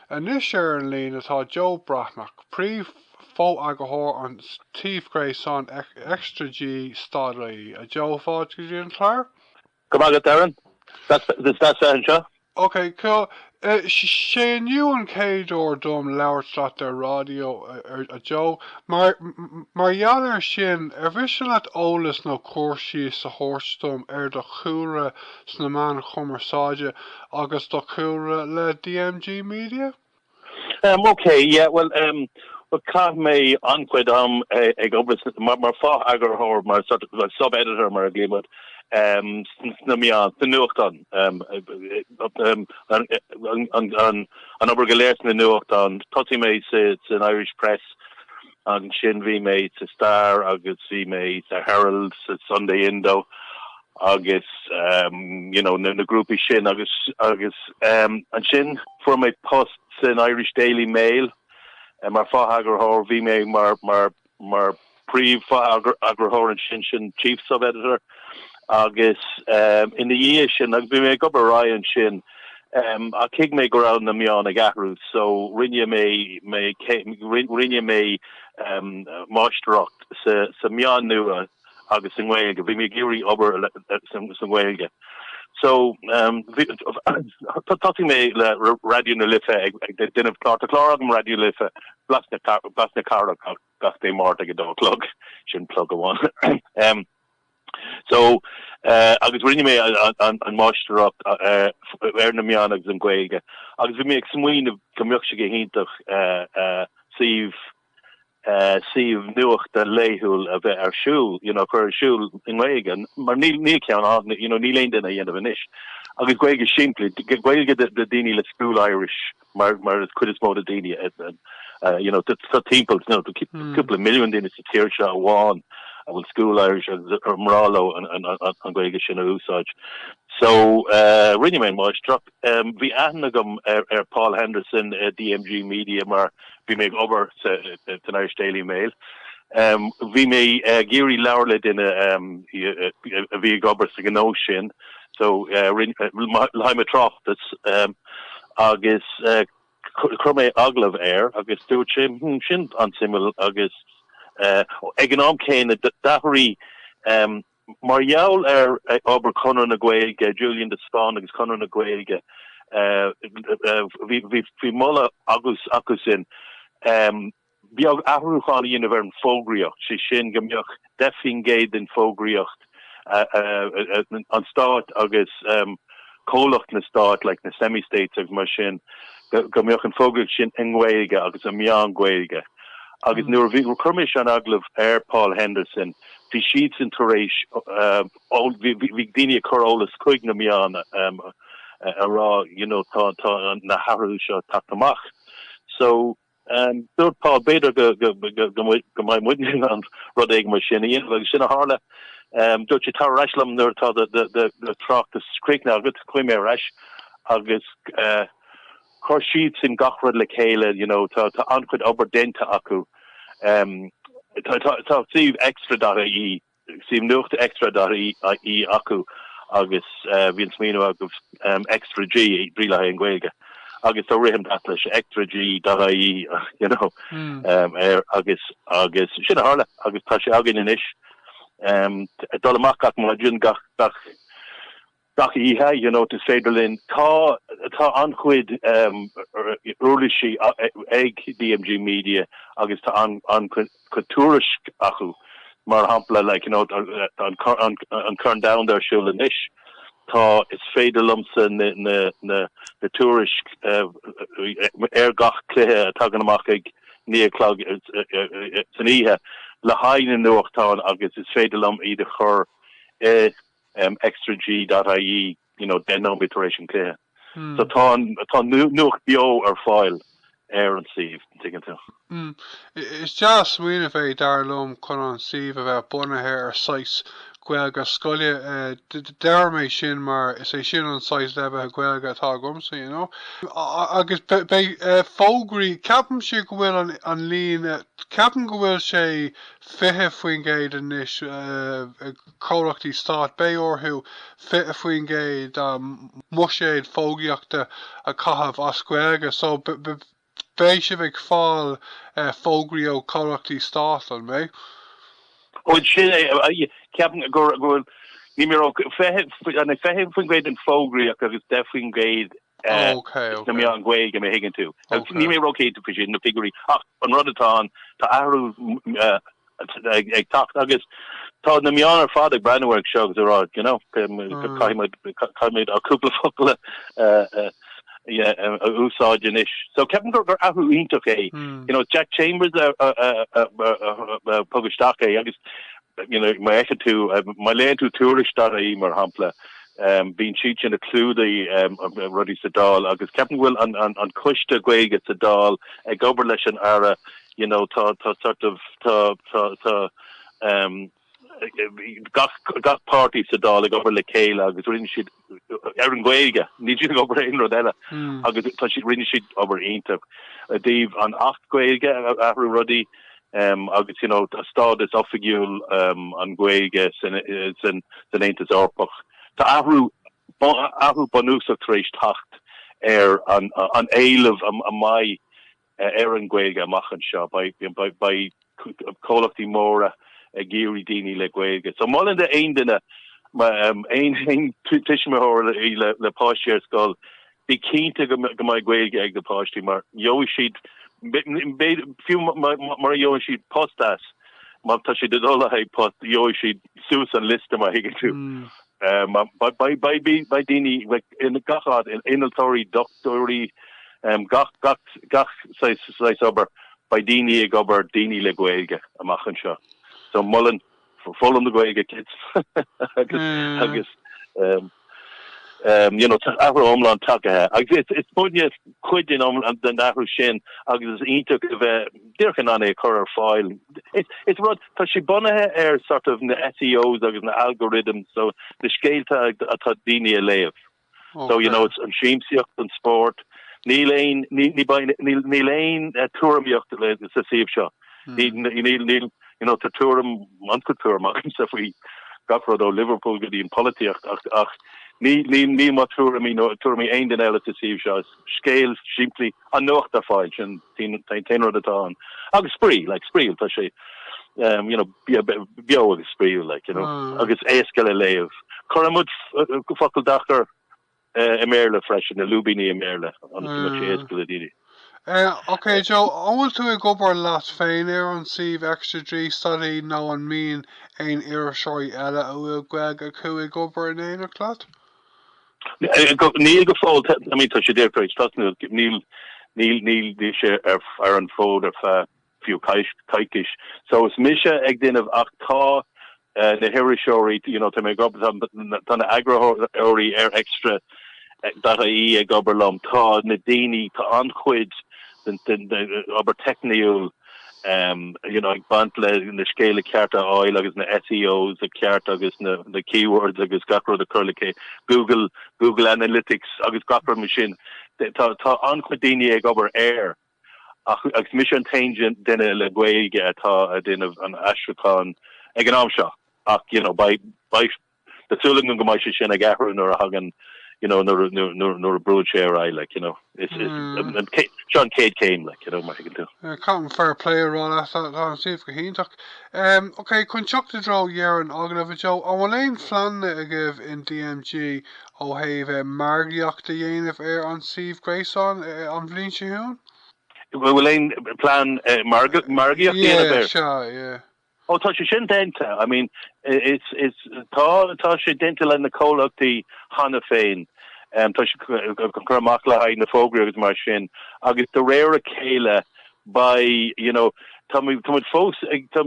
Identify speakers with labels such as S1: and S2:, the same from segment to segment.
S1: Anois ar an líne tá Joe Breathnach, Príomh-Fho-eagarthóir an tsuímh gréasáin ExtraG stad ie. A Joe, fáilte go dtí an clár. Go maith agat, Darren.
S2: Is deas bheith anseo.
S1: Okay, cool. 'Sé inniu an chéad uair dom labhairt leat ar ráidió, a Joe. Mar gheall ar sin, ar mhiste leat eolas nó cur síos a thabhairt dom ar do chúlra sna meáin cumarsáide agus do chúlra le DMG Media?
S2: Em, okay, yeah, bhuel, em, bhuel, chaith mé an-chuid am ag obair mar, mar fo-eagarthóir, mar sort of like sub-editor mar a ghlaoimid air, em, sna meáin, sna nuachtáin, em, em, an, an, an, an obair go léir sna nuachtáin, thosaigh mé sa, san Irish Press, Ansin bhí mé sa Star agus bhí mé sa Herald, sa Sunday Indo agus you know na grúpaí sin agus agus ansin fuair mé post san Irish Daily Mail mar fo-eagarthóir, bhí mé mar mar mar príomh-fho-eagarthóir ansin, chief sub-editor. agus ina dhiaidh sin agus bhí mé ag obair ar aghaidh ansin ach thuig mé go raibh na meáin ag athrú so rinne mé mé rinne mé máistreacht sa meáin nua agus sa nGaeilge. Bhí mé ag iarraidh obair sa nGaeilge so thosaigh mé le Raidió na Life ag déanamh clár. Tá clár agam Raidió na Life, Blas na Blas na Cathrach. gach Dé Máirt ag a dó a chlog, sin plug amháin ehm. So eh agus rinne mé an máistreacht eh ar na meáin agus an Ghaeilge agus bhí mé ag smaoineamh go mbeadh sé go hiontach eh eh suíomh eh suíomh nuachta laethúil a bheith ar siúl, you know, chur ar siúl i nGaeilge mar níl níl ceann ann, you know, níl aon duine á dhéanamh anois agus Gaeilge simplí, Gaeilge do do daoine le school Irish. mar mar an chuid is mó de na daoine you know tá tá timpeall you know cúpla milliún daoine sa tír seo amháin a bhfuil school Irish acu ar bhreá leo an an an Ghaeilge sin a úsáid so eh rinne mé an máistreacht eh bhí aithne agam ar ar Paul Henderson eh DMG Media mar bhí mé ag obair sa eh san Irish Daily Mail eh bhí mé eh ag iarraidh labhairt le duine eh a bhí ag obair sa ghnó sin so le haghaidh mo thráchtas agus chuir mé agallamh air agus dúirt sé sin an-suimiúil agus ag an am céanna d'athraigh mar gheall ar obair Chonradh na Gaeilge, Julian de Spáinn agus Conradh na Gaeilge bhí moladh acusan. Beidh athrúcháin á dhéanamh ar an bhfógraíocht, sé sin go mbeadh 10% den bhfógraíocht an stáit agus comhlachtaí stáit like na semi states agus mar sin go mbeadh an fógraíocht sin i nGaeilge agus i meáin Ghaeilge agus nuair a bhí chuir mise an agallamh ar Paul Henderson bhí siadsan tar éis ó bhí bhí daoine ag cur eolas chuig na meáin a ag rá you know tá tá na hathruithe seo ag teacht amach so Dúirt Paul b'fhéidir go mbeidh muidne in ann rud éigin mar sin a dhéanamh agus sin a tharla. Dúirt sé, 'Tar ar ais liom nuair atá do thráchtas críochnaithe agat. Chuaigh mé ar ais agus chuir siadsan gach rud le chéile, you know, tá an-chuid obair déanta acu, tá suíomh extra.ie. suíomh nuachta Extra.ie acu agus bhí an smaoineamh agus Extra G, G le haghaidh an Ghaeilge agus tá rithim deas leis, Extra G.ie you know air agus agus sin a tharla agus tá sé againn anois ag dul amach gach maidin gach gach oíche you know tá is féidir linn tá tá an-chuid uirlisí ag DMG media agus tá an an-chuid tuairisc acu mar shampla like you know tá an an an corn domhanda ar siúl anois tá is féidir liomsa na na na na tuairisc ar gach cluiche a tagann amach ag naoi a chlog san oíche le haghaidh na nuachtáin agus is féidir liom iad a chur i um, extrag.ie, you know, deich nóiméad tar éis an chluiche. So tá an, tá nuacht beo ar fáil ar an suíomh, an dtuigeann tú.
S1: Is dea-smaoineamh é, dar liom, chun an suíomh a bheith bunaithe ar saghas Gaeilge scoile. Deirim é sin mar is é sin an saghas leibhéil Gaeilge atá agamsa, you know. Agus beidh fógraí, ceapaimse go bhfuil an líon, ceapaim go bhfuil sé 20% anois, chomhlachtaí stáit, beidh orthu 20% dá mbuiséad fógraíochta a chaitheamh as Gaeilge so beidh sibh ag fáil fógraí ó chomhlachtaí stáit, an mbeidh?
S2: Bhuel, sin é. Ceapaim go bhfuil, níl mé ag rá 20% den fógraíocht agus 10% Ok sna ok. meáin Ghaeilge má thuigeann tú. Ok. Níl mé róchinnte faoi sin, na figiúirí, ach an rud atá ann, tá athrú ag teacht agus tá na meáin ar fad ag breathnú ar seo agus ag rá, you know, caithfidh muid, caithfidh muid ár gcúpla focal a úsáid anois. So ceapaim gur gur athrú iontach é. You know, Jack Chambers a a thug isteach é agus, you know, má fheiceann tú, má léann tú tuairisc.ie mar shampla, Bíonn siad sin ag clúdach rudaí sa Dáil agus ceapaim go bhfuil an coiste Gaeilge sa Dáil ag obair leis an Aire you know tá tá sort of tá tá tá gach gach páirtí sa Dáil ag obair le chéile agus rinne siad ar an Gaeilge níl siad ag obair aon rud eile agus tá siad rinne siad obair iontach i dtaobh an acht Gaeilge a athrú rudaí agus you know tá stádas oifigiúil an Ghaeilge san Aontas Eorpach. Tá athrú athrú bunúsach tar éis teacht ar an éileamh a bheidh ar an Ghaeilge amach anseo. Beidh comhlachtaí móra ag iarraidh daoine le Gaeilge. So mholfainn d'aon duine, aon tuismitheoir le páistí ar scoil, Bí cinnte go mbeidh Gaeilge ag na páistí mar gheobhaidh siad, fiú mura gheobhaidh siad post as, má tá siad ag dul le haghaidh post, gheobhaidh siad suas an liosta má thuigeann tú. Beidh daoine i ngach áit, innealtóirí, dochtúirí, gach saghas obair, beidh daoine ag obair, daoine le Gaeilge amach anseo. So molaim Foghlaim an Ghaeilge kids agus agus um um you know tá athrú iomlán tagtha agus is is muidne cuid den iomlán den athrú sin agus is iontach a bheith díreach in ann é a chur ar fáil. Is is rud tá sé bunaithe ar sort of na SEOs agus na algorithms so na scéalta atá daoine ag léamh. So, you know, it's an siamsaíocht, an spórt. Níl aon, ní, ní, beidh, níl, níl aon tuairimíocht le, sa suíomh seo. Ní, ní, níl, níl, you know, tá tuairim, an-chuid tuairim agamsa faoi gach rud ó Liverpool go dtí an pholaitíocht ach, ach ní, ní, níl mo tuairimí nó tuairimí aon duine eile sa suíomh seo. Is. Scéal simplí an nuacht ar fáil, sin an t-aon rud atá ann. Agus spraoi, like, spraíúil, tá sé, um, you know, beo agus spraíúil, like, you know, agus éasca le léamh. Cuireann muid focail deacair i mBéarla freisin, na lúibíní i mBéarla, ionas go mbeidh sé éasca le daoine.
S1: Ok Joe, an bhfuil tú ag obair leat féin ar an suíomh ExtraG.ie nó an mbíonn aon iriseoirí eile a bhfuil Gaeilg acu ag obair in éineacht leat?
S2: Níl go fóill, I mean tá sé díreach tar éis tosnú. Níl níl níl níl sé ar ar an bhfód ar feadh fiú coisc coicís. So is mise ag déanamh ach tá na hiriseoirí you know tá mé ag obair tá na tá na eagarthóirí ar extra dot IE ag obair liom. Tá na daoine tá an-chuid den den obair teicniúil ag baint le na scéalta cearta a fháil agus na SEOs cearta agus na keywords agus gach rud a chur le chéile, Google, Google Analytics agus gach rud mar sin. Tá an-chuid daoine ag obair air ach agus mise an t-aon duine le Gaeilge atá ag déanamh an aistriúcháin ag an am seo ach beidh Tá súil agam go mbeidh sé sin ag athrú nuair a thagann, you know, nuair, nuair, nuair a bhrúigh sé ar aghaidh, like, you know. Is, is, seo an chéad céim, like, you know, mar a thuigeann tú. Caithim fair play a rá
S1: leat, tá, tá an suíomh go hiontach. Ok, chun teacht i dtreo dheireadh an agallaimh, Joe, an bhfuil aon phleananna agaibh in DMG ó thaobh margaíocht a dhéanamh ar an suíomh gréasáin an bhliain seo chugainn? An bhfuil
S2: aon phlean margaíocht a dhéanamh air? Yeah, sea,
S1: yeah. Oh tá sé
S2: sin déanta, I mean is, is, tá, tá sé déanta leis na comhlachtaí cheana féin, em, tá sé ag cur amach le haghaidh na fógraí agus mar sin agus de réir a chéile beidh, you know, tá muid, tá muid fós ag, tá,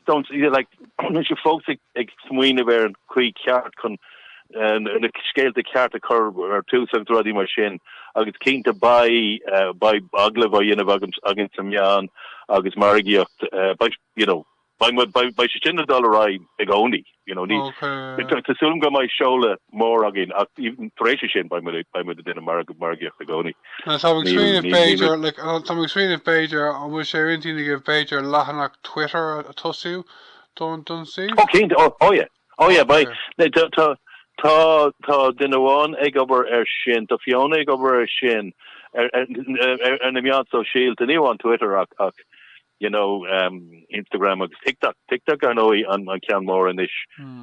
S2: don't, like, níl sé fós ag, ag smaoineamh ar an chaoi cheart chun na scéalta cearta a chur ar tús agus rudaí mar sin agus cinnte beidh agallamh á dhéanamh againn sna meáin agus margaíocht, you know, beidh sé sin ag dul ar aghaidh i gcónaí, you know. Tá súil agam go mbeidh seoladh mór againn ach even tar éis sin beidh muid ag déanamh margaíocht i gcónaí. Tá mé ag
S1: smaoineamh b'fhéidir, like, tá mé ag smaoineamh b'fhéidir an bhfuil sé ar intinn agaibh b'fhéidir leathanach Twitter a thosú don suíomh? Ó cinnte, oh yeah.
S2: Oh yeah, beidh. Tá duine amháin ag obair air sin, tá Fiona ag obair air sin, ar na meáin shóisialta, ní amháin Twitter ach, you know, Instagram agus TikTok. TikTok ar ndóigh an ceann mór anois,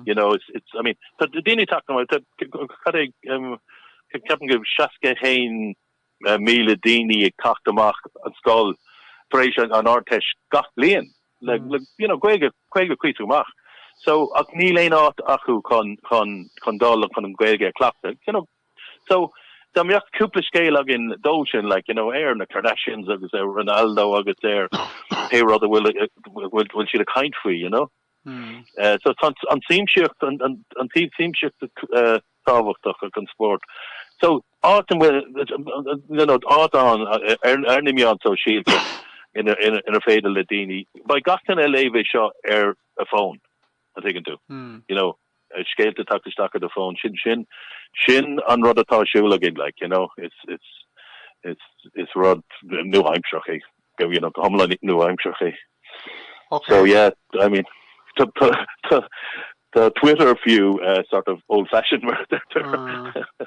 S2: you know, I mean, tá daoine ag teacht chun cinn, ceapaim go bhfuil 61 míle daoine ag teacht amach an scoil tar éis an Ardteist gach bliain le you know Gaeilge Gaeilge cuíosach maith so ach níl aon áit acu chun chun chun dul an chun an Gaeilge a cleachtadh you know so Dá mbeadh cúpla scéal againn dóibh sin le like, you know, ar na Kardashians agus ar Ronaldo agus ar pé rud a bhfuil bhfuil siad ag caint faoi you know? So tá an tsiamsaíocht, an taobh siamsaíochta tábhachtach agus an spórt. So áit an bhfuil, you know, áit ann ar ar na meáin shóisialta ina inar féidir le daoine, beidh gach duine ag léamh é seo ar a phone, an dtuigeann tú? you know, scéalta ag teacht isteach ar do fón, sin sin sin an rud atá ar siúl againn like you know is is is is rud nua-aimseartha é go you know go hiomlán nua-aimseartha é okay. so yeah I mean tá, tá, tá, tá Twitter fiú uh, sort of old fashioned mar a. Ah.